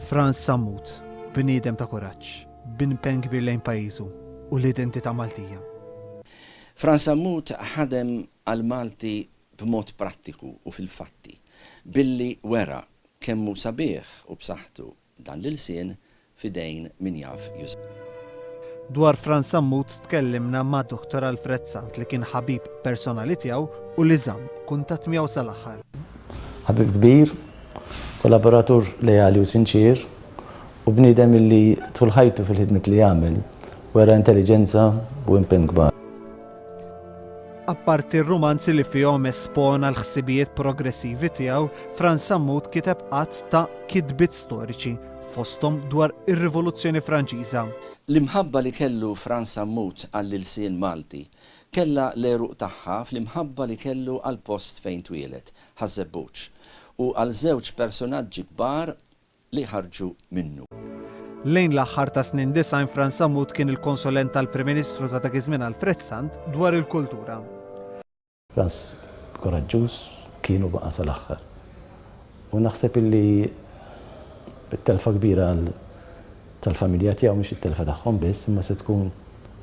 Frans Sammut, bniedem ta' kuraġġ, b'impenn kbir lejn pajjiżu u l-identità Maltija. Frans Sammut ħadem għall-Malti b'mod prattiku u fil-fatti, billi wera kemm hu sabiħ u b'saħħtu Dan l-ilsien f'idejn min jaf jużah. Dwar Frans Sammut tkellimna ma' Dottor Alfred Sant li kien ħabib personali tiegħu u li żamm kuntatt miegħu sal-aħħar. Ħabib kbir, kollaboratur leali u sinċier, u bniedem illi tul ħajtu fil-ħidmiet li għamel wera intelliġenza u impenn kbar. Apparti r-rumanzi li fihom espona l-ħsibijiet progressivi tiegħu, Frans Sammut kiteb għadd ta' kitbiet storiċi, fosthom dwar ir-Rivoluzzjoni Franċiża. L-imħabba li kellu Frans Sammut għall-ilsien Malti kellha l-għeruq tagħha fl-imħabba li kellu għall-post fejn twieled, Ħaż-Żebbuġ, u għal żewġ persunaġġi kbar li jħarrġu minnu. Lejn l-aħħar tas-snin disgħin Frans Sammut kien il-konsulent tal-Prim Ministru ta' dak iż-żmien Alfred Sant dwar il-kultura. Frans kuraġġuż kien u baqa' sal-aħħar. U naħseb illi t-telfa kbira tal-familja tiegħu mhix it-telfa tagħhom biss imma se tkun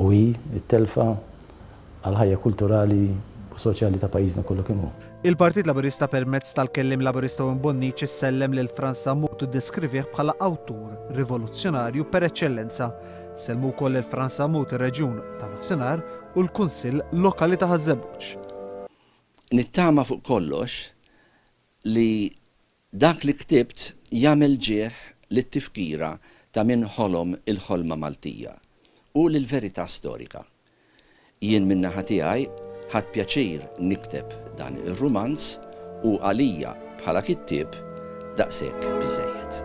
u hi t-telfa għall-ħajja kulturali u soċjali ta' pajjiżna kollu kemm hu. Il-Partit Laburista permezz tal-Kelliem Laburista Wim Bonniċ issellem lil Frans Sammut u ddeskrivih bħala awtur rivoluzzjonarju per eċċellenza. Sellmu wkoll lil Frans Sammut ir-Reġjun tan-Nofsinhar u l-Kunsill Lokali ta' Ħaż-Żebbuġ. Nittama fuq kollox li Dak li ktibt jagħmel ġieħ lit-tifkira ta' min ħolom il-ħolma Maltija u lill-verità storika. Jien min-naħa tiegħi ħadt pjaċir nikteb dan ir-rumanz u għalija bħala kittieb daqshekk biżżejjed.